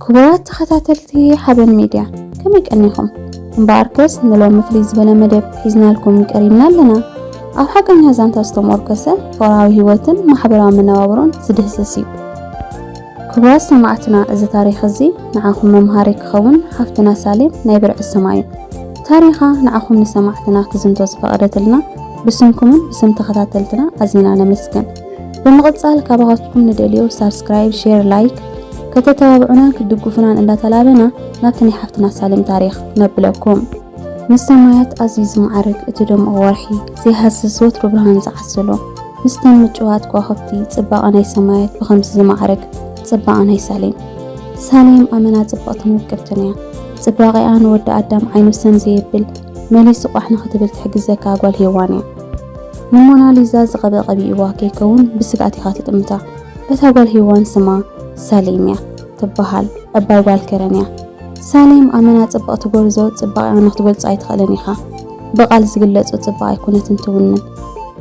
ክቡራት ተኸታተልቲ ሓበን ሚድያ ከመይ ቀኒኹም? እምበኣርከስ ንሎሚ ፍልይ ዝበለ መደብ ሒዝናልኩም ቀሪብና ኣለና። ኣብ ሓቀኛ ዛንታ ዝተሞርከሰ ጦራዊ ህይወትን ማሕበራዊ መነባብሮን ዝድህስስ እዩ። ክቡራት ሰማዕትና እዚ ታሪኽ እዚ ንዓኹም መምሃሪ ክኸውን ሓፍትና ሳሌም ናይ ብርዒ ስማ እዩ ታሪኻ ንዓኹም ንሰማዕትና ክዝንቶ ዝፈቐደትልና ብስምኩምን ብስም ተኸታተልትና ኣዚና ነመስግን ብምቕጻል ካባኻትኩም ንደልዮ ሳብስክራይብ ሼር ላይክ ከተተባብዑናን ክትድግፉናን እንዳተላበና ናብቲ ናይ ሓፍትና ሳሌም ታሪኽ ነብለኩም ምስ ሰማያት ኣዝዩ ዝማዕርግ እቲ ደሙቕ ወርሒ ዘይሃስስ ወትሩ ብርሃን ዝዓስሎ ምስተን ምጭዋት ከዋኽብቲ ጽባቐ ናይ ሰማያት ብኸምዚ ዝማዕርግ ጽባቐ ናይ ሳሌም ሳሌም ኣመና ጽብቕትን ውቅብትን እያ። ጽባቐኣ ንወዲ ኣዳም ዓይኑ ሰም ዘየብል መሊሱ ቋሕ ንኽትብል ትሕግዘካ ጓል ሄዋን እያ። ንሞናሊዛ ዝቐበ ቀቢእዋ ከይከውን ብስግኣት ኢኻ ትጥምታ። እታ ጓል ሄዋን ስማ ሳሌም እያ ትበሃል እባ ጓል ከረን እያ። ሳሌም ኣመና ጽብቕቲ ጎርዞ ጽባቕያ ንክትገልጾ ኣይትኽእልን ኢኻ። ብቓል ዝግለጹ ጽባቕ ኣይኮነትን ትውንን።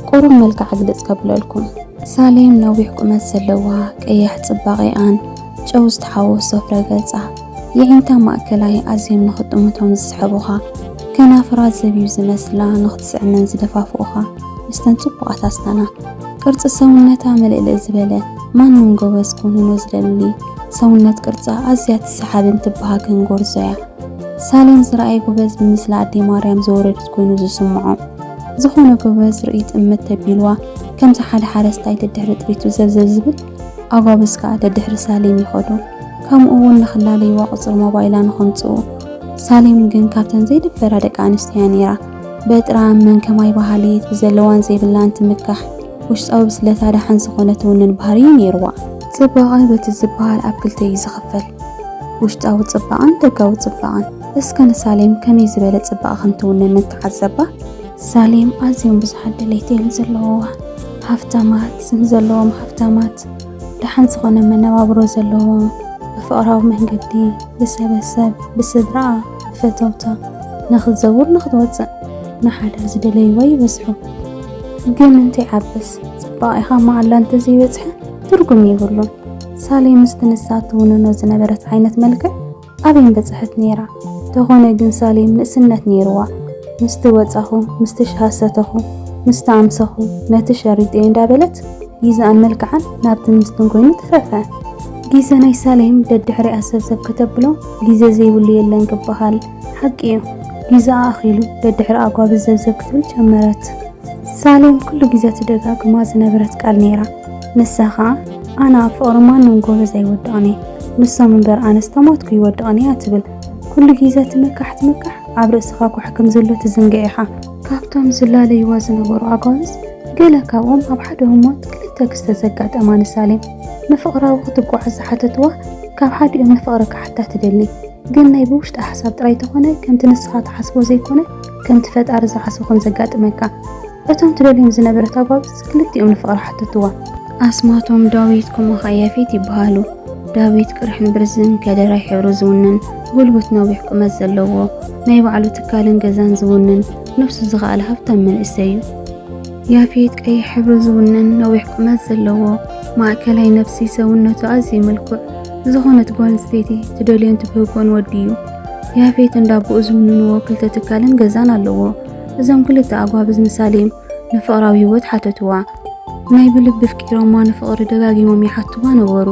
ቁሩብ መልክዓ ግልጽ ከብለልኩም። ሳሌም ነዊሕ ቁመት ዘለዋ፣ ቀያሕ ጽባቕያኣን ጨው ዝተሓወሶ ፍረ ገጻ፣ የዒንታ ማእከላይ ኣዝዮም ንክትጥምቶም ዝስሕቡኻ፣ ከናፍራ ዘቢብ ዝመስላ ንክትስዕመን ዝደፋፍኡኻ ምስተን ጽቡቓት ኣስናና። ቅርጺ ሰውነታ ምልእልእ ዝበለ፣ ማንም ጎበዝ ክውንኖ ዝደሊ፣ ሰውነት ቅርጻ ኣዝያ ትሰሓብን ትበሃግን ጎርዞ እያ። ሳሌም ዝረኣየ ጎበዝ ብምስላ ኣደይ ማርያም ዝወረደት ኮይኑ ዝስምዖ። ዝኾነ ጎበዝ ርእይት እምት ተቢልዋ ከምዚ ሓደ ሓረስታይ ደድሕሪ ጥሪቱ ዘብዘብ ዝብል ኣጓብዝ ከኣ ደድሕሪ ሳሌም ይኸዱ። ከምኡ እውን ንክላለይዋ ቁጽሪ ሞባይላ ንኸምጽኡ። ሳሌም ግን ካብተን ዘይድፈራ ደቂ ኣንስትዮ እያ ነይራ። በጥራን መን ከማይ በሃሊት ብዘለዋን ዘይብላን ትምካሕ። ውሽጣዊ ብስለታ ደሓን ዝኾነ ትውንን ባህሪ እዩ ነይርዋ። ጽባቐ በቲ ዝበሃል ኣብ ክልተ እዩ ዝኽፈል፣ ውሽጣዊ ጽባቐን ደጋዊ ጽባቐን። እስከ ንሳሌም ከመይ ዝበለ ጽባቐ ከም ትውንን ንተዓዘባ። ሳሌም ኣዝዮም ብዙሓት ድሌት እዮም ዘለዉዋ፣ ሃፍታማት፣ ስም ዘለዎም ሃፍታማት፣ ደሓን ዝኾነ መነባብሮ ዘለዎም፣ ብፍቕራዊ መንገዲ፣ ብሰበሰብ፣ ብስድራኣ፣ ፈተውታ ንኽትዘውር ንኽትወፅእ ንሓዳር ዝደለይዋ ይበዝሑ። ግን እንታይ ዓብስ ፅባቐኢኻ መዓላ እንተዘይበፅሐ ትርጉም የብሉን። ሳሌ ምስቲ ንሳ እትውንኖ ዝነበረት ዓይነት መልክዕ ኣበይ ምበፀሐት ነይራ? ተኾነ ግን ሳሌ ንእስነት ነይሩዋ። ምስቲ ወፃኹ፣ ምስቲ ሻሂ ሰተኹ፣ ምስቲ ኣምሰኹ፣ ነቲ ሸሪጠይ እንዳበለት ጊዘኣን መልክዓን ናብቲ ምስትን ኮይኑ ተረፈ። ጊዘ ናይ ሳሌም ደድሕሪኣ ሰብሰብ ከተብሎ ግዜ ዘይብሉ የለን ክበሃል ሓቂ እዩ። ግዜኣ ኣኺሉ ደድሕሪ ኣጓብዝ ዘብዘብ ክትብል ጀመረት። ሳሌም ኩሉ ግዜ ትደጋግማ ዝነበረት ቃል ነይራ። ንሳ ኸኣ ኣነ ኣብ ፍቕሪ ማንም ጎበዝ ኣይወድቕን እየ፣ ንሶም እምበር ኣነስ ተሞትኩ ይወድቕን እያ ትብል። ኩሉ ግዜ ትምካሕ ትምካሕ ኣብ ርእስኻ ኳሕ ከም ዘሎ ትዝንግዕ ኢኻ። ካብቶም ዝላለዩዋ ዝነበሩ ኣጓብዝ ገለ ካብኦም ኣብ ሓደ ህሞት ክልተ ክስተት ዘጋጠማ ንሳሌም። ንፍቕራዊ ክትጓዓዝ ዝሓተትዋ ካብ ሓዲኦም ንፍቕሪ ክሓታ ትደሊ ግን ናይ ብውሽጣ ሓሳብ ጥራይ ተኾነ ከምቲ ንስኻ ትሓስቦ ዘይኮነ ከምቲ ፈጣሪ ዝሓስቦ ከም ዘጋጥመካ እቶም ትደልዮም ዝነበረት ኣጓብዝ ክልቲኦም ንፍቕሪ ሓተትዋ ኣስማቶም ዳዊት ኩማኻ ያፌት ይበሃሉ ዳዊት ቅርሕን ብርዝን ከደራይ ሕብሩ ዝውንን ጉልቡት ነዊሕ ቁመት ዘለዎ ናይ ባዕሉ ትካልን ገዛን ዝውንን ነፍሱ ዝኸኣለ ሃብታም መንእሰይ እዩ ያፌት ቀይሕ ሕብሪ ዝውንን ነዊሕ ቁመት ዘለዎ ማእከላይ ነብሲ ሰውነቱ ኣዝዩ ምልኩዕ ዝኾነት ጓል ኣንስተይቲ ትደልዮን ትብህጎን ወዲ እዩ። ያፌት እንዳቦኡ ዝውንንዎ ክልተ ትካልን ገዛን ኣለዎ። እዞም ክልተ ኣጓብዝ ንሳሌም ንፍቕራዊ ህይወት ሓተትዋ። ናይ ብልቢ ኣፍቂሮማ ንፍቕሪ ደጋጊሞም ይሓትዋ ነበሩ።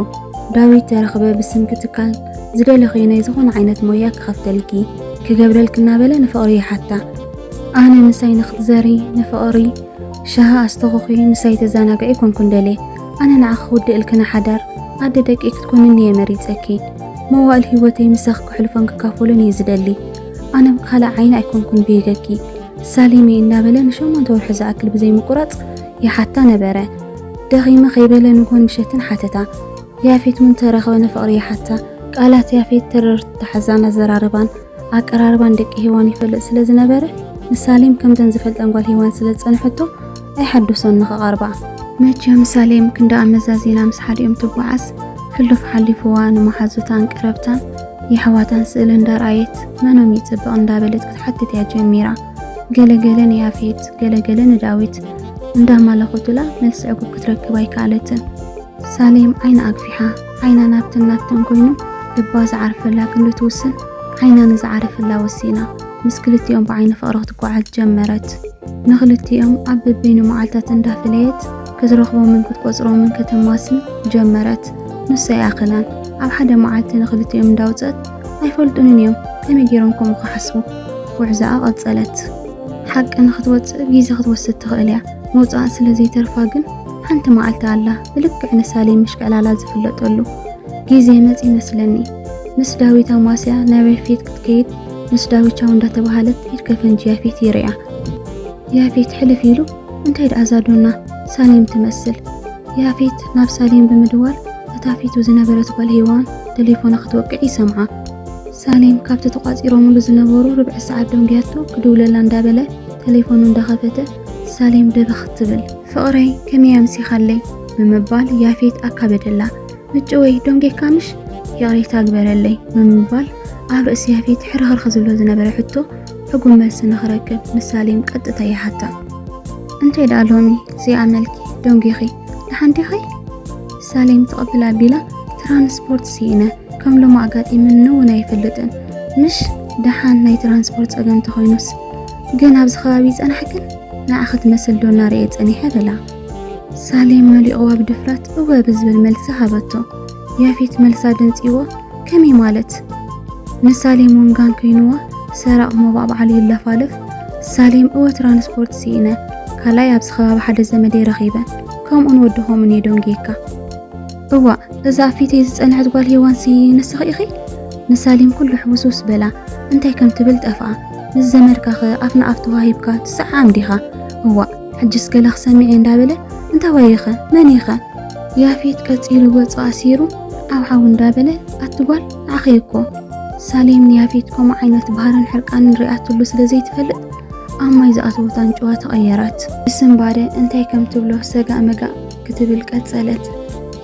ዳዊት ተረኽበ ብስምኪ ትካል ዝደለኽዮ ናይ ዝኾነ ዓይነት ሞያ ክኸፍተልኪ፣ ክገብረልኪ እናበለ ንፍቕሪ ይሓታ። ኣነ ምሳይ ንክትዘሪ ንፍቕሪ ሻሃ ኣስተኹኺ ምሳይ ተዛናግዒ ኮንኩን ደሌ ኣነ ንዓኺ ክውድእልኪ ንሓዳር ኣደ ደቂ ክትኮንኒ እየ መሪፀኪ መዋእል ህይወተይ ምሳኺ ክሕልፎን ክካፈሉን እየ ዝደሊ ኣነ ብካልእ ዓይኒ ኣይኮንኩን ብይገኪ ሳሊሚ እናበለ ንሸሞንተ ወርሒ ዝኣክል ብዘይምቁራፅ ይሓታ ነበረ። ደኺመ ከይበለ ንጎን ምሸትን ሓተታ። ያፌት እውን ተረኸበ ንፍቕሪ ይሓታ። ቃላት ያፌት ተረርቲ ተሓዛን ኣዘራርባን ኣቀራርባን ደቂ ሄዋን ይፈልጥ ስለ ዝነበረ ንሳሌም ከምተን ዝፈልጠን ጓል ሄዋን ስለ ዝጸንሐቶ ኣይሓደሶን ንኸቐርባ መቸም ሳሌም ክንዳ ኣመዛዚና ምስ ሓዲኦም ትጓዓዝ ሕሉፍ ሓሊፍዋ ንመሓዙታን ቀረብታን የሕዋታን ስእሊ እንዳርኣየት መኖም ይጽብቕ እንዳበለት ክትሓትት እያ ጀሚራ ገለገለ ንያፌት ገለገለ ንዳዊት እንዳማለኹትላ መልሲ ዕጉብ ክትረክብ ኣይከኣለትን ሳሌም ዓይና ኣግፊሓ ዓይና ናብትን ናብትን ኮይኑ ልባ ዝዓርፈላ ክንዲ ትውስን ዓይና ንዝዓረፈላ ወሲና ምስ ክልቲኦም ብዓይኒ ፍቕሪ ክትጓዓዝ ጀመረት። ንክልቲኦም ኣብ በበይኑ መዓልታት እንዳፈለየት ክትረኽቦምን ክትቆጽሮምን ከተማስን ጀመረት። ንሱ ኣይኣኸላን። ኣብ ሓደ መዓልቲ ንክልቲኦም እንዳውጸት ኣይፈልጡንን እዮም ከመይ ገይሮም ከምኡ ክሓስቡ ጉዕዛኣ ቀጸለት። ሓቂ ንክትወጽእ ግዜ ክትወስድ ትኽእል እያ፣ ምውጻኣ ስለ ዘይተርፋ ግን ሓንቲ መዓልቲ ኣላ ብልክዕ ንሳሌ ምሽቀላላ ዝፍለጠሉ ግዜ መጽ ይመስለኒ ምስ ዳዊት ኣማስያ ናበይ ፊት ክትከይድ ምስ ዳዊት ቻው እንዳተባሃለት ኢድ ከፈንጂ ያፌት ይርያ ያፌት ሕልፍ ኢሉ እንታይ ደኣ ዛዶና ሳሌም ትመስል ያፌት ናብ ሳሌም ብምድዋል እታ ፊቱ ዝነበረት ጓል ሄዋን ቴሌፎና ክትወቅዕ ይሰምዓ ሳሌም ካብቲ ተቋፂሮምሉ ዝነበሩ ርብዒ ሰዓት ደንጉያቶ ክድውለላ እንዳበለ ቴሌፎኑ እንዳኸፈተ ሳሌም ደበኽ ትብል ፍቕረይ ከመይ ኣምሲኻለይ ብምባል ያፌት ኣካበደላ። ምጭወይ ዶንጌካንሽ ይቕሬታ ግበረለይ ብምባል ኣብ ርእሲ ያፌት ሕርኽርኽ ዝብሎ ዝነበረ ሕቶ ሕጉም መልሲ ንኽረክብ ንሳሌም ቀጥታ ይሓታ እንተ ደኣ ሎሚ ዘይኣመልኪ ደንጒኺ ንሓንዴኺ ሳሌም ትቕብል ኣቢላ ትራንስፖርት ስኢነ ከም ሎሚ ኣጋጢምኒ እውን ኣይፈልጥን ምሽ ደሓን ናይ ትራንስፖርት ጸገም ተኾይኑስ ግን ኣብዚ ከባቢ ጸናሕ ግን ንኣኸ ትመስል ዶ እናርኤ ጸኒሐ በላ። ሳሌም መሊቕዋ ብድፍረት እወ ብዝብል መልሲ ሃበቶ። ያፌት መልሳ ደንጺዎ ከመይ ማለት ንሳሌም እውን ጋን ኮይንዋ ሰራቕ ሞባዕባዕሉ ይለፋለፍ ሳሌም እወ ትራንስፖርት ስኢነ ካልኣይ ኣብዚ ከባቢ ሓደ ዘመደይ ረኺበ ከምኡን ወድኾምን እየ ደንጌካ እዋእ እዛ ኣብ ፊተይ ዝጸንሐት ጓል ሄዋንሲ ንስኺ ኢኺ? ንሳሌም ኩሉ ሕውስውስ በላ። እንታይ ከም ትብል ጠፍኣ። ምስ ዘመድካኸ ኣፍ ንኣፍ ተዋሂብካ ትሰዓዓም ዲኻ? እዋእ ሕጅስ ገለ ክሰምዕ'የ እንዳበለ እንታዋይ'ኸ መን'ኸ? ያፌት ቀጺሉ ገጹ ኣሲሩ ዓውዓው እንዳበለ ኣቲ ጓል ንዓኺ እኮ። ሳሌም ንያፌት ከምኡ ዓይነት ባህርን ሕርቃንን ሪኣትሉ ስለ ዘይትፈልጥ ኣብ ማይ ዝኣተወት ኣንጭዋ ተቐየረት። ብስንባደ እንታይ ከም ትብሎ ሰጋእ መጋእ ክትብል ቀጸለት።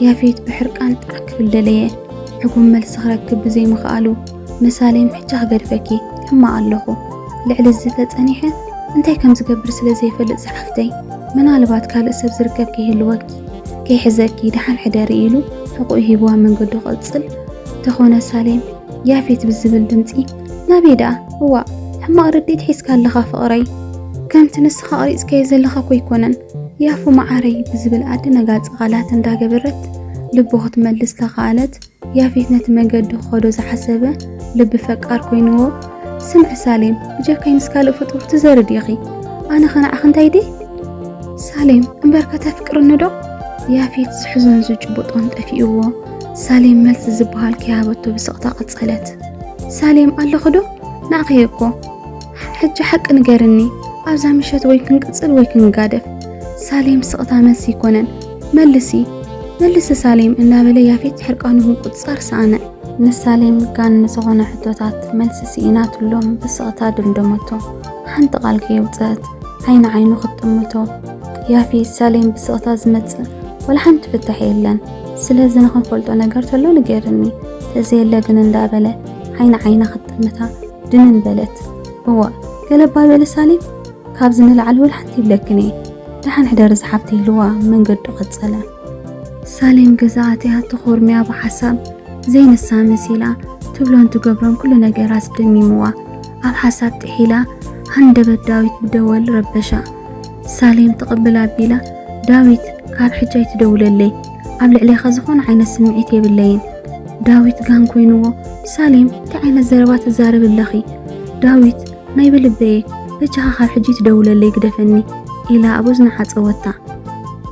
ያፌት ብሕርቃን ጥርዕ ክብል ደለየ። ዕጉም መልሲ ክረክብ ብዘይምኽኣሉ መሳሌን ሕጂ ክገድፈኪ ሕማቕ ኣለኹ ልዕሊ እዚ ተጸኒሐ እንታይ ከም ዝገብር ስለ ዘይፈልጥ ዝሓፍተይ ምናልባት ካልእ ሰብ ዝርከብ ከይህልወኪ ከይሕዘኪ ደሓን ሕደሪ ኢሉ ሕቑኡ ሂብዋ መንገዱ ክቕጽል ተኾነ ሳሌም ያፌት ብዝብል ድምፂ ናበይ ደኣ እዋእ ሕማቕ ርድኢት ሒዝካ ኣለኻ ፍቕረይ ከምቲ ንስኻ ቐሪጽካዮ ዘለኻ እኮ ኣይኮነን ያፉ መዓረይ ብዝብል ኣደናጋጺ ቃላት እንዳገበረት ልቡ ክትመልስ ተኻኣለት ያፌት ነቲ መንገዲ ክኸዶ ዝሓሰበ ልቢ ፈቃር ኮይንዎ ስምዒ ሳሌም ብጀካይ ምስ ካልእ ፍጡር ትዘርድ ኢኺ ኣነ ኸነዓኽ እንታይ ደይ ሳሌም እምበር ከተፍቅርኒ ዶ ያፌት ዝሕዞን ዝጭቡጦን ጠፊእዎ ሳሌም መልሲ ዝበሃል ከይሃበቶ ብስቕታ ቀጸለት ሳሌም ኣለኹ ዶ ንኣኸየ እኮ ሕጂ ሓቂ ንገርኒ ኣብዛ ምሸት ወይ ክንቅጽል ወይ ክንጋደፍ ሳሌም ስቕታ መልሲ ይኮነን መልሲ መልሲ ሳሌም እናበለ ያፌት ሕርቃኑ ምቁጽጻር ሰኣነ ንሳሌም ጋን ንዝኾነ ሕቶታት መልሲ ስኢናትሎም ብስቕታ ድምደመቶ ሓንቲ ቃል ከየውፅአት ዓይኒ ዓይኑ ክትጥምቶ ያፌት ሳሌም ብስቕታ ዝመጽእ ወላ ሓንቲ ፍታሕ የለን ስለዚ ንክንፈልጦ ነገር ተሎ ንገርኒ ተዘየለ ግን እንዳበለ ዓይኒ ዓይና ክትጥምታ ድንን በለት። እዋእ ገለባ በለ ሳሊም፣ ካብዚ ንላዕሊ ወላ ሓንቲ ይብለክን እየ ደሓን ሕደሪ ዝሓብቲ ኢልዋ መንገዱ ቀጸለ። ሳሌም ገዛ ኣትያ ተኾርሚያ ብሓሳብ ዘይንሳ መሲላ ትብሎን ትገብሮን ኩሉ ነገር ኣስደሚምዋ ኣብ ሓሳብ ጥሒላ ሃንደበት ዳዊት ብደወል ረበሻ። ሳሌም ትቕብል ኣቢላ ዳዊት ካብ ሕጂ ኣይትደውለለይ ኣብ ልዕሌኻ ዝኾነ ዓይነት ስምዒት የብለይን። ዳዊት ጋን ኮይንዎ ሳሌም እንታይ ዓይነት ዘረባ ትዛረብ ኣለኺ? ዳዊት ናይ ብልበየ በጃኻ ካብ ሕጂ ትደውለለይ ግደፈኒ ኢላ ኣብ እዝና ዓጸወታ።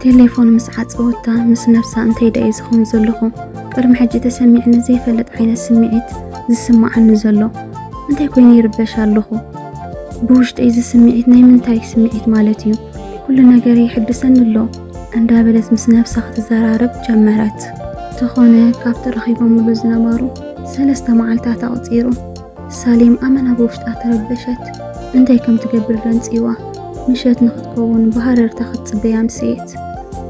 ቴሌፎን ምስ ዓጸወታ ምስ ነብሳ እንታይ ደኣ ዝኸውን ዘለኹ ቅድሚ ሕጂ ተሰሚዕኒ ዘይፈልጥ ዓይነት ስምዒት ዝስማዓኒ ዘሎ እንታይ ኮይኑ ይርበሽ ኣለኹ ብውሽጠይ እዚ ስምዒት ናይ ምንታይ ስምዒት ማለት እዩ ኩሉ ነገር ይሕድሰኒ ኣሎ እንዳበለት ምስ ነብሳ ክትዘራረብ ጀመረት። ተኾነ ካብ ተረኺቦምሉ ዝነበሩ ሰለስተ መዓልታት ኣቕፂሩ ሳሌም ኣመና ብውሽጣ ተረበሸት። እንታይ ከም ትገብር ደንፂዋ ምሸት ንክትከውን ብሃረርታ ክትፅበያ ኣምስየት።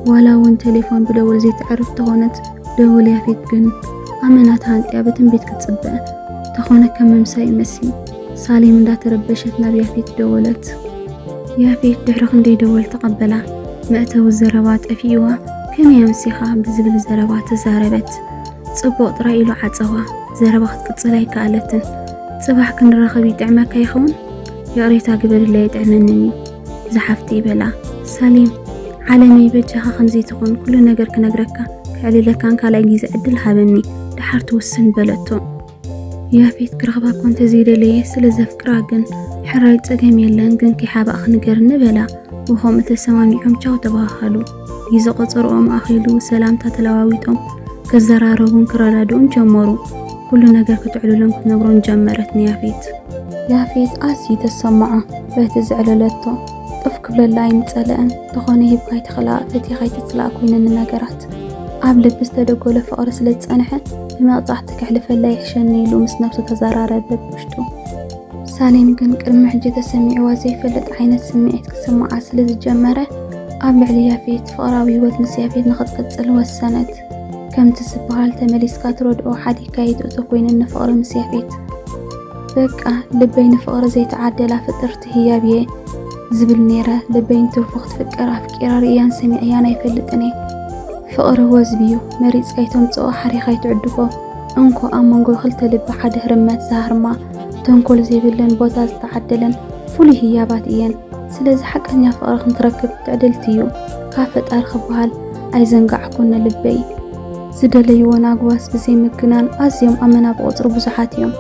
ዋላ እውን ቴሌፎን ብደወል ዘይትዕርፍ ተኾነት ደወል ያፌት ግን ኣመና ተሃንጥያ ብትንቢት ክትፅበ ተኾነ ከም ምምሳይ ይመስል ሳሌም እንዳተረበሸት ናብ ያፌት ደወለት። ያፌት ድሕሪ ክንደይ ደወል ተቐበላ። መእተዊ ዘረባ ጠፊእዋ ከመይ ኣምሲኻ ብዝብል ዘረባ ተዛረበት። ጽቡቕ ጥራይ ኢሉ ዓጸዋ። ዘረባ ክትቅጽል ኣይከኣለትን። ጽባሕ ክንራኸብ ይጥዕመካ ይኸውን? ይቕሬታ ግበርለይ ኣይጥዕመንን እዩ ዝሓፍቲ ይበላ። ሳሌም ዓለመይ በጃኻ ከምዚ ትኹን ኩሉ ነገር ክነግረካ ክዕልለካን ካልኣይ ግዜ ዕድል ሃበኒ ደሓር ትውስን በለቶ። ያፌት ክረኽባ እኮ እንተዘይደለየ ስለ ዘፍቅራ ግን ሕራይ ጸገም የለን ግን ከይሓባእ ክንገርኒ በላ ብኸምኡ ተሰማሚዖም ቻው ተባሃሃሉ ግዜ ቆጸርኦም ኣኺሉ ሰላምታ ተለዋዊጦም ክዘራረቡን ክረዳድኡን ጀመሩ ኩሉ ነገር ክትዕልሎም ክትነግሮን ጀመረት ንያፌት ያፌት ኣዝዩ ተሰማዖ በቲ ዘዕለለቶ ጡፍ ክብለላ ኣይምጸለአን። እንተኾነ ሂብካ ኣይትኽላእ ፈቲኻ ኣይትጽላእ ኮይነኒ ነገራት። ኣብ ልቢ ዝተደጎለ ፍቕሪ ስለ ዝጸንሐ ብመቕጻዕቲ ከሕልፈላ ይሕሸኒ ኢሉ ምስ ነብሱ ተዘራረበ ብውሽጡ። ሳሌም ግን ቅድሚ ሕጂ ተሰሚዕዋ ዘይፈልጥ ዓይነት ስምዒት ክስምዓ ስለ ዝጀመረ ኣብ ልዕሊ ያፌት ፍቕራዊ ህይወት ምስ ያፌት ንኽትቅጽል ወሰነት። ከምቲ ዝበሃል ተመሊስካ ትረድኦ ሓዲግካ ኣይትእቶ ኮይነኒ ፍቕሪ ምስ ያፌት። በቃ ልበይ ንፍቕሪ ዘይተዓደላ ፍጥርቲ ህያብ እየ ዝብል ነይረ። ልበይ ንትርፎ ክትፍቀር ኣፍቂራ ርእያን ሰሚዐያን ኣይፈልጥን እየ። ፍቕሪ ወዝቢ እዩ፣ መሪጽካ ኣይተምጽኦ፣ ሓሪኻ ኣይትዕድጎ። እንኮ ኣብ መንጎ ክልተ ልቢ ሓደ ህርመት ዝሃርማ፣ ተንኮል ዘይብለን ቦታ ዝተዓደለን ፍሉይ ህያባት እየን። ስለዚ ሓቀኛ ፍቕሪ ክንትረክብ ትዕድልቲ እዩ ካብ ፈጣሪ ክበሃል ኣይዘንጋዕኩን ንልበይ። ዝደለይዎ ናግባስ ብዘይ ምግናን ኣዝዮም ኣመና ብቑጽሪ ብዙሓት እዮም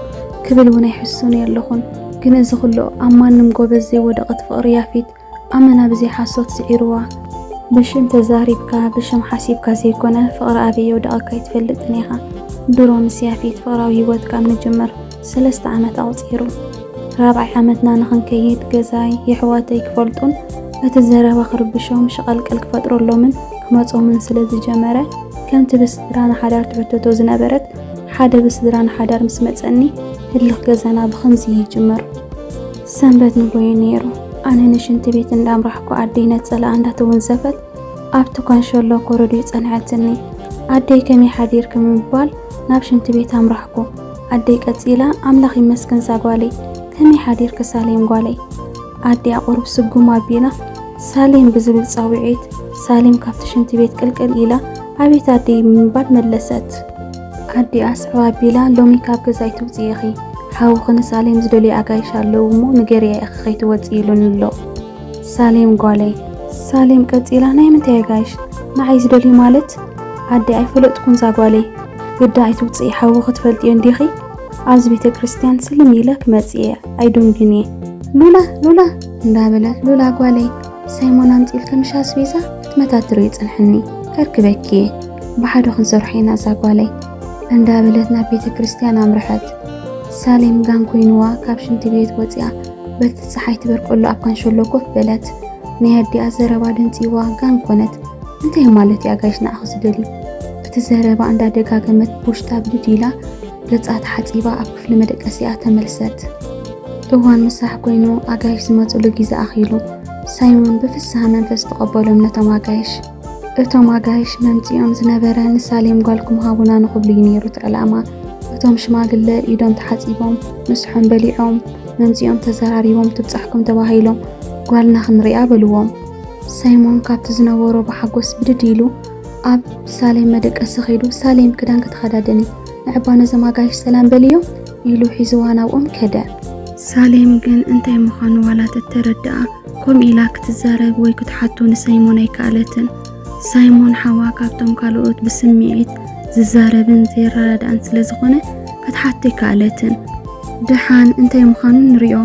ክብል እውን ኣይሕሱን የለኹን። ግን እዚ ኩሉ ኣብ ማንም ጎበዝ ዘይወደቐት ፍቕሪ ያፊት ኣመና ብዘይ ሓሶት ስዒርዋ። ብሽም ተዛሪብካ ብሽም ሓሲብካ ዘይኮነ ፍቕሪ ኣበይ የውደቐካ ኣይትፈልጥን ኢኻ። ድሮ ምስ ያፊት ፍቕራዊ ሂወትካ ኣብ ምጅምር ሰለስተ ዓመት ኣቑጺሩ። ራብዓይ ዓመትና ንኽንከይድ ገዛይ፣ የሕዋተይ ክፈልጡን በቲ ዘረባ ክርብሾም፣ ሸቐልቀል ክፈጥረሎምን ክመጾምን ስለ ዝጀመረ፣ ከምቲ ብስድራና ሓዳር ትሕተቶ ዝነበረት፣ ሓደ ብስድራና ሓዳር ምስ መጸኒ፣ ህልኽ ገዛና ብኸምዚ ይጅምር። ሰንበት ንጎዩ ነይሩ። ኣነ ንሽንቲ ቤት እንዳ ኣምራሕኩ ኣደይ ነጸላኣ እንዳ ተወንዘፈት ኣብቲ ካንሸሎ ኮረድዩ ጸንሐትኒ። ኣደይ ከመይ ሓዲርኪ ብምባል ናብ ሽንቲ ቤት ኣምራሕኩ። ኣደይ ቀጺላ ኣምላኽ ይመስገን ዛጓለይ ከመይ ሓዲርኪ ሳሌም ጓለይ ኣዲኣ ቁሩብ ስጉም ኣቢላ ሳሌም ብዝብል ጻዊዒት ሳሌም ካብቲ ሽንቲ ቤት ቅልቅል ኢላ ኣቤት ኣደይ ብምባል መለሰት። ኣዲኣ ኣስዕብ ኣቢላ ሎሚ ካብ ገዛ ኣይትውጽኢ ኢኺ ሓውኺ ንሳሌም ዝደልዩ ኣጋይሽ ኣለዉ እሞ ንገርያ ኢኺ ከይትወጽኢ ኢሉኒ ኣሎ። ሳሌም ጓለይ ሳሌም ቀጺላ ናይ ምንታይ የጋይሽ ንዓይ ዝደልዩ ማለት ኣደ ኣይፈለጥኩን ዛጓለይ ግዳ ኣይትውፅኢ ሓዊ ክትፈልጥዮ እንዲኺ ኣብዚ ቤተ ክርስቲያን ስልም ኢለ ክመፅእ እየ ኣይዶንግን እየ ሉላ ሉላ እንዳበለት ሉላ ጓለይ ሳይሞን ኣምፂል ከምሻ ኣስቤዛ ክትመታትር እዩ ፅንሕኒ ከርክበኪ እየ ብሓደ ክንሰርሖ ኢና እዛ ጓለይ እንዳበለት ናብ ቤተ ክርስቲያን ኣምርሐት ሳሌም ጋን ኮይኑዋ ካብ ሽንቲ ቤት ወፂኣ በቲ ፀሓይ ትበርቀሉ ኣብ ካንሸሎ ኮፍ በለት። ናይ ኣዲኣ ዘረባ ደንጺዋ ጋን ኮነት። እንታይ ማለት እዩ ኣጋይሽ ንዓኺ ዝደሊ? እቲ ዘረባ እንዳደጋገመት ብውሽጣ ብድድ ኢላ ገጻ ተሓጺባ ኣብ ክፍሊ መደቀሲኣ ተመልሰት። እዋን ምሳሕ ኮይኑ ኣጋይሽ ዝመጽሉ ግዜ ኣኺሉ። ሳይሞን ብፍስሃ መንፈስ ተቐበሎም ነቶም ኣጋይሽ። እቶም ኣጋይሽ መምጺኦም ዝነበረ ንሳሌም ጓልኩም ሃቡና ንኽብሉ እዩ ነይሩ እቲ ዕላማ። እቶም ሽማግለ ኢዶም ተሓጺቦም፣ ምሰሖም በሊዖም፣ መምጺኦም ተዘራሪቦም ትብጻሕኩም ተባሂሎም ጓልና ክንሪኣ በልዎም። ሳይሞን ካብቲ ዝነበሮ ብሓጎስ ብድድ ኢሉ ኣብ ሳሌም መደቀሲ ከይዱ ሳሌም ክዳንኪ ተኸዳደኒ ንዕባ ነዞም ኣጋይሽ ሰላም በልዮም ኢሉ ሒዝዋ ናብኦም ከደ። ሳሌም ግን እንታይ ምዃኑ ዋላ ተተረድኣ ከምኡ ኢላ ክትዛረብ ወይ ክትሓቱ ንሳይሞን ኣይከኣለትን። ሳይሞን ሓዋ ካብቶም ካልኦት ብስምዒት ዝዛረብን ዘይረዳዳእን ስለ ዝኾነ ክትሓቱ ኣይከኣለትን። ደሓን እንታይ ምዃኑ ንሪኦ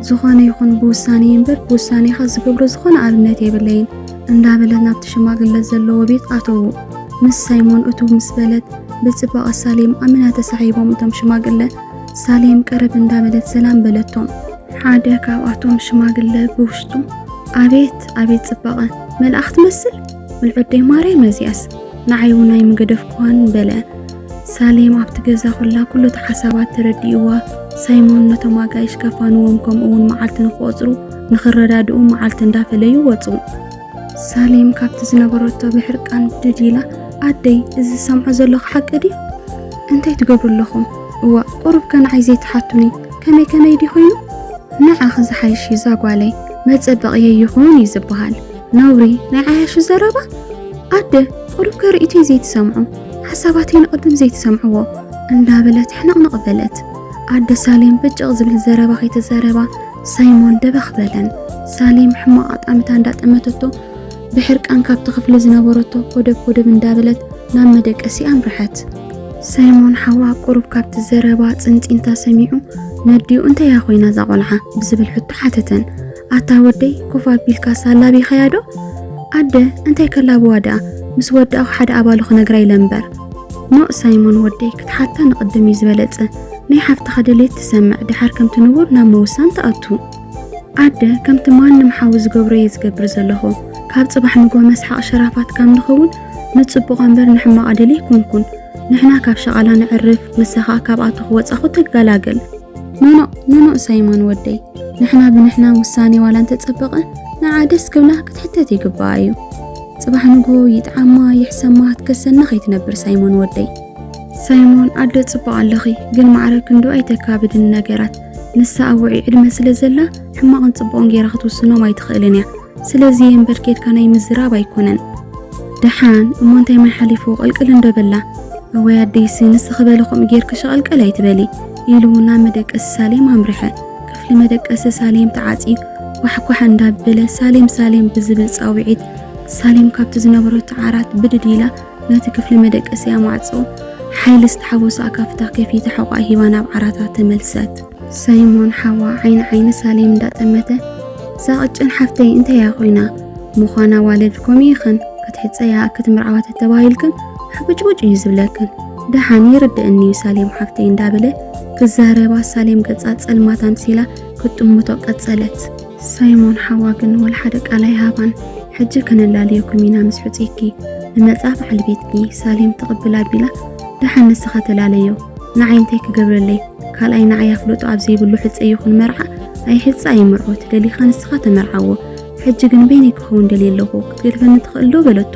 ዝኾነ ይኹን ብውሳኔ እምበር ብውሳኔኻ ዝገብሮ ዝኾነ ኣብነት የብለይን። እንዳበለ ናብቲ ሽማግለ ዘለዎ ቤት ኣተዉ። ምስ ሳይሞን እትው ምስ በለት ብጽባቐ ሳሌም ኣመና ተሳሒቦም እቶም ሽማግለ ሳሌም ቀረብ እንዳበለት ሰላም በለቶም። ሓደ ካብኣቶም ሽማግለ ብውሽጡ ኣቤት ኣቤት ጽባቐ መልኣኽ ትመስል ምልዑደይ ማርያም እዚኣስ ንዓይ እውን ኣይምገደፍኩዋን በለ። ሳሌም ኣብቲ ገዛ ኮላ ኩሉ እቲ ሓሳባት ተረዲእዋ ሳይሞን ነቶም ኣጋይሽ ከፋንዎም ከምኡ እውን መዓልቲ ንክቆፅሩ ንኽረዳድኡ መዓልቲ እንዳፈለዩ ወጹ። ሳሌም ካብቲ ዝነበረቶ ብሕርቃን ብድድ ኢላ ኣደይ እዚ ዝሰምዖ ዘለኹ ሓቂ ድዩ? እንታይ ትገብሩ ኣለኹም? እዋእ ቁሩብ ከ ንዓይ ዘይትሓቱኒ ከመይ ከመይ ድዩ ኮይኑ? ንዓኺ ዝሓይሽ እዩ ዛጓለይ መጸበቕየ ይኹን እዩ ዝበሃል። ነውሪ ናይ ዓያሹ ዘረባ ኣደ ቁሩብ ከ ርእይቶይ ዘይትሰምዑ ሓሳባተይ ንቕድም ዘይትሰምዕዎ እንዳበለት ሕንቕንቕ በለት። ኣደ ሳሌም ብጭቕ ዝብል ዘረባ ከይተዛረባ ሳይሞን ደበኽ በለን። ሳሌም ሕማቕ ኣጣምታ እንዳጠመተቶ ብሕርቃን ካብቲ ክፍሊ ዝነበረቶ ኮደብ ኮደብ እንዳበለት ናብ መደቀሲ ኣምርሐት። ሳይሞን ሓዋ ቁሩብ ካብቲ ዘረባ ጽንጺንታ ሰሚዑ ነዲኡ እንተያ ኮይና እዛ ቆልዓ ብዝብል ሕቶ ሓተተን። ኣታ ወደይ ኮፍ ኣቢልካ ሳላቢኸያ ዶ? ኣደ እንታይ ከላብዋ ደኣ ምስ ወዳእኹ ሓደ ኣባሉ ክነግራ ኢለ እምበር። ኖእ ሳይሞን ወደይ ክትሓታ ንቕድም እዩ ዝበለጸ ናይ ሓፍትኻ ድሌት ትሰምዕ ድሓር ከምቲ ንቡር ናብ ምውሳን ትኣቱ ኣደ ከምቲ ማንም ሓዊ ዝገብሮ እየ ዝገብር ዘለኹ ካብ ጽባሕ ንጎ መስሓቕ ሸራፋት ካብ ንኸውን ንጽቡቕ እምበር ንሕማቕ ኣደል ኣይኮንኩን ንሕና ካብ ሸቓላ ንዕርፍ ንሳ ኸኣ ካብኣቱ ክወጻኹ ትገላገል ኖኖ ኖኖ ሳይሞን ወደይ ንሕና ብንሕና ውሳኔ ዋላ እንተጸበቐ ንዓ ደስ ክብላ ክትሕተት ይግባኣ እዩ ጽባሕ ንጎ ይጥዓማ ይሕሰማ ትከሰና ከይትነብር ሳይሞን ወደይ ሳይሞን ኣደ ጽቡቕ ኣለኺ ግን ማዕረ ክንዱ ኣይተካብድን ነገራት ንሳ ኣብ ውዑይ ዕድመ ስለ ዘላ ሕማቕን ጽቡቕን ጌራ ክትውስኖም ኣይትኽእልን እያ ስለዚ የንበር ኬድካ ናይ ምዝራብ ኣይኮነን ደሓን እሞ እንታይ ማይ ሓሊፉ ቀልቅል እንዶ በላ እወይ ኣደይሲ ንስኺ በሊ ከምኡ ጌርኪ ሸቐልቀል ኣይትበሊ ኢሉ ናብ መደቀሲ ሳሌም ኣምርሐ ክፍሊ መደቀሲ ሳሌም ተዓፅዩ ኳሕኳሕ እንዳበለ ሳሌም ሳሌም ብዝብል ፃውዒት ሳሌም ካብቲ ዝነበረቶ ዓራት ብድድ ኢላ ነቲ ክፍሊ መደቀሲኣ ማዕጾ ሓይሊ ዝተሓወሶ ኣካፍታ ከፊታ ሕቖኣ ሂባ ናብ ዓራታ ተመልሰት። ሳይሞን ሓዋ ዓይኒ ዓይኒ ሳሌም እንዳጠመተ፣ እዛ ቅጭን ሓፍተይ እንታይ እያ ኮይና? ምዃና ዋልድኩም ኢኽን ክትሕጸያ ኣክት ምርዓዋ ተተባሂልክን ሕቡጭቡጭ እዩ ዝብለክን ደሓን ይርድእኒ እዩ ሳሌም ሓፍተይ እንዳበለ ክዛረባ ሳሌም ገጻ ጸልማት ኣምሲላ ክትጥምቶ ቀጸለት። ሳይሞን ሓዋ ግን ወላ ሓደ ቃል ኣይሃባን። ሕጂ ከነላልየኩም ኢና ምስ ሕጹይኪ። ንመጻ በዓል ቤትኪ ሳሌም ትቕብል ኣቢላ ደሓን ንስኻ ተላለዮ። ንዓይ እንታይ ክገብረለይ? ካልኣይ ንዓይ ኣፍልጦ ኣብ ዘይብሉ ሕጸ ይኹን መርዓ ኣይሕጸ ኣይምርዖ ትደሊኻ ንስኻ ተመርዓዎ። ሕጂ ግን በይነይ ክኸውን ደልየ ኣለኹ ክትገድፈኒ ትኽእል ዶ? በለቶ።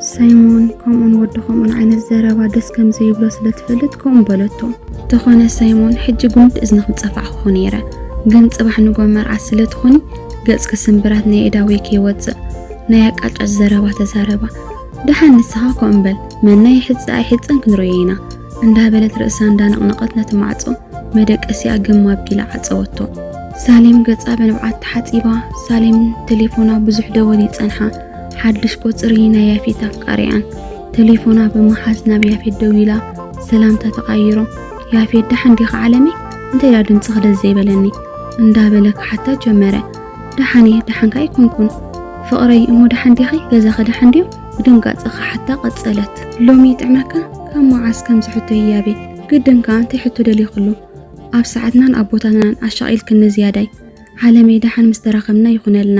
ሳይሞን ከምኡን ወዲ ከምኡን ዓይነት ዘረባ ደስ ከም ዘይብሎ ስለ ትፈልጥ ከምኡ በለቶ። ተኾነ ሳይሞን ሕጂ ጉንዲ እዝንኽ ምጸፋዕኹ ነይረ፣ ግን ጽባሕ ንጎ መርዓ ስለ ትኹኒ ገጽኪ ስምብራት ናይ እዳወይ ከይወጽእ ናይ ኣቃጫጭ ዘረባ ተዛረባ። ደሓን ንስኻ ከምኡ በል መና ይሕጽ ኣይሕጽን ክንርእዮ ኢና እንዳበለት ርእሳ እንዳነቕነቐት ነቲ ማዕጾ መደቀሲኣ ግም ኣቢላ ዓጸወቶ። ሳሌም ገጻ ብንብዓት ተሓጺባ ሳሌም ቴሌፎና ብዙሕ ደወል ይጸንሓ ሓድሽ ቁጽሪ ናይ ያፌት ኣፍቃሪኣን ተሌፎና ብምሓዝ ናብ ያፌት ደዊላ ሰላምታ ተቓይሮም ያፌት ደሓን ዲኻ ዓለመይ እንታይ ዳ ድምፂ ክደስ ዘይበለኒ እንዳበለ ክሓታ ጀመረ ደሓን እየ ደሓንካ ኣይኮንኩን ፍቕረይ እሞ ደሓን ዲኺ ገዛኺ ደሓን ድዮም ብድንጋፀ ክሓታ ቀፀለት ሎሚ ይጥዕመካ ካብ መዓስ ከምዚ ሕቶ ህያቤ ግድን ከዓ እንታይ ሕቶ ደሊኹሉ ኣብ ሰዓትናን ኣቦታትናን ኣሻቒልክኒ ዝያዳይ ዓለመይ ደሓን ምስ ተራኸብና ይኹነልና